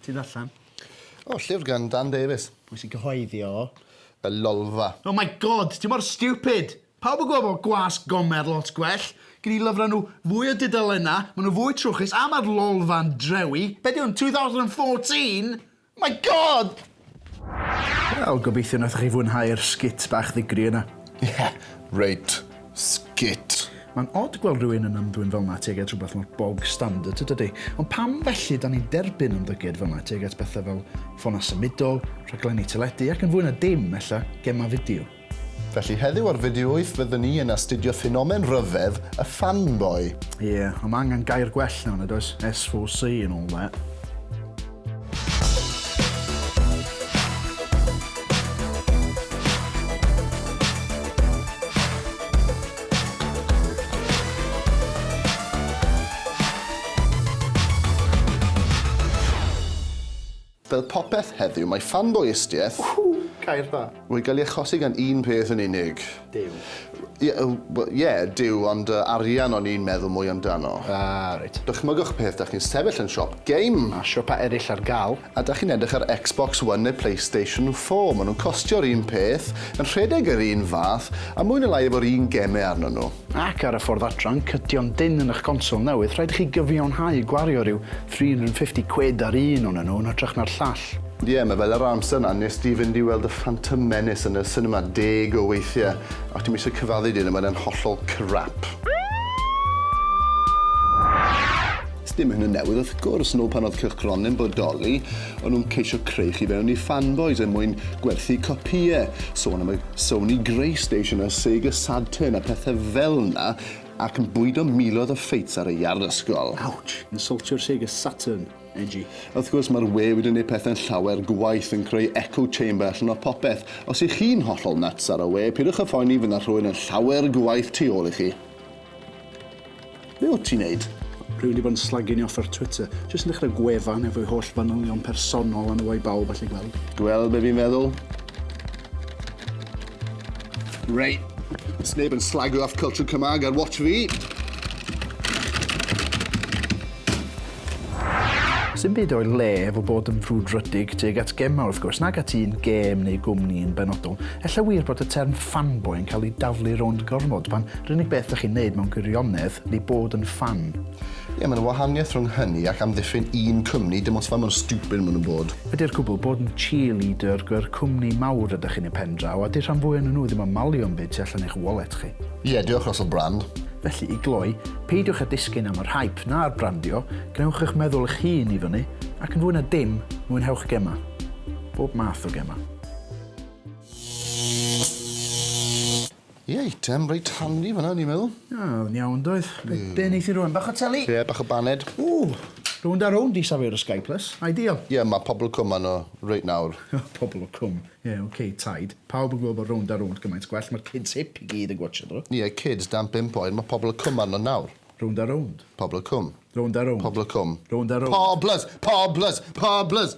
Ti ddarllen? O, llyfr gan Dan Davies. Pwy sy'n cyhoeddi o? Y Lolfa. Oh my god, ti mor stupid! Pawb yn gwybod bod Gwas Gomer lot gwell. Gen i lyfrau nhw fwy o dudalennau, maen nhw fwy trwchus a mae'r Lolfa'n drewi. Be di hwn, 2014? My God! Wel, gobeithio nathoch chi fwynhau'r sgit bach ddigri yna. Ie, reit sgit. Mae'n od gweld rhywun yn ymddwyn fel 'na tuag at rhywbeth mor bog standard, yn dydi? Ond pam felly 'dan ni'n derbyn ymddygiad fel 'na tuag at bethau fel ffonau symudol, rhaglenni teledu ac yn fwy na dim, ella, gemau fideo? Felly heddiw ar Fideo Wyth fyddwn ni yn astudio ffenomen rhyfedd y fanboy. Ie, yeah, ond mae angen gair gwell na hwnna, does? SVC and all that. Fel popeth heddiw, mae ffanboïstiaeth... Ww! Gair dda! ...wedi cael ei achosi gan un peth yn unig. Duw. Ie, wel, ie, Duw, ond yy, arian o'n i'n meddwl mwy amdano. Ah, reit. Dychmygwch peth, 'dach chi'n sefyll yn siop game. Mae siopau eraill ar gael. A 'dach chi'n edrych ar Xbox One neu Playstation Four, maen nhw'n costio'r un peth, yn rhedeg yr un fath, a mwy neu lai efo'r un gemau arnyn nhw. Ac ar y ffordd adran, cydion dynn yn eich consol newydd, rhaid i chi gyfiawnhau gwario rhyw 350 quid ar un onyn nhw yn hytrach na'r llall. Ie, mae fel yr amser 'na wnest ti fynd i weld y Phantom Menace yn y sinema deg o weithiau, ac dwi'm eisiau cyfaddu dy hyn ond mae e'n hollol crap. Sdim hyn yn newydd wrth gwrs, nôl pan oedd cylchgronau yn bodoli, o'n nhw'n ceisio creu chi fewn i fanboys er mwyn gwerthu copïau, sôn am y Sony Greystation a Sega Sadturn a pethau fel 'na, ac yn bwydo miloedd o ffeits ar y iard ysgol. Ouch! Insultio'r Sega Saturn, edgy. Wrth gwrs, mae'r we wedi gwneud pethau'n llawer gwaeth, yn creu echo chamber allan o popeth. Os 'y chi'n hollol nuts ar y we, pidwch â phoeni, fydd 'na rhywun yn llawer gwaeth tu ôl i chi. Be wyt ti'n neud? Rwyf wedi bod yn slagging off ar Twitter. Jyst yn dechrau gwefan efo'i holl fanylion personol a nhw a'i bawb allu gweld. Gweld be fi'n feddwl? Reit. Sneb yn slagio off culture Cymraeg ar watch fi. Sdim byd o'i le efo bod yn frwdfrydig tuag at gemau wrth gwrs, nag at un gêm neu gwmni yn benodol. Ella wir bod y term 'fanboy' yn cael ei daflu rownd gormod, pan 'r unig beth dych chi'n neud mewn gwirionedd ydi bod yn ffan. Ie, mae 'na wahaniaeth rhwng hynny ac amddiffyn un cwmni, dim ots faint mor stupid maen nhw'n bod. Ydi'r cwbl, bod yn cheerleader gyr cwmni mawr ydych chi'n eu pen draw, a 'di rhan fwy o'nyn nhw ddim yn malio 'm byd tu allan i'ch wallet chi. Ie, diolch Russell Brand. Felly, i gloi, peidiwch â disgyn am yr hype na'r brandio, gwnewch eich meddwl eich hun i fyny, ac yn fwy na dim, mwynhewch gemau. Bob math o gemau. Ie, eitem reit handi fanna, o'n i'n meddwl. Ah, oedd yn iawn, doedd. Be, mm. be neith i rwan? Bach o teli? Ie, yeah, bach o baned. Ww, rwy'n da rownd i safio'r Sky Plus. Ideal. Ie, yeah, mae pobl cwm anno reit nawr. pobl o cwm. Ie ok, taid. Pawb yn gwybod bod rownd a rownd gymaint gwell, mae'r kids hip i gyd yn gwatsio nhw. Ie, kids, dan bump oed, mae pobl y cwm arno nawr. Rownd a rownd. Pobl y cwm. Rownd a rownd. Pobl y cwm. Rownd a rownd. Poblys! Poblys! Poblys!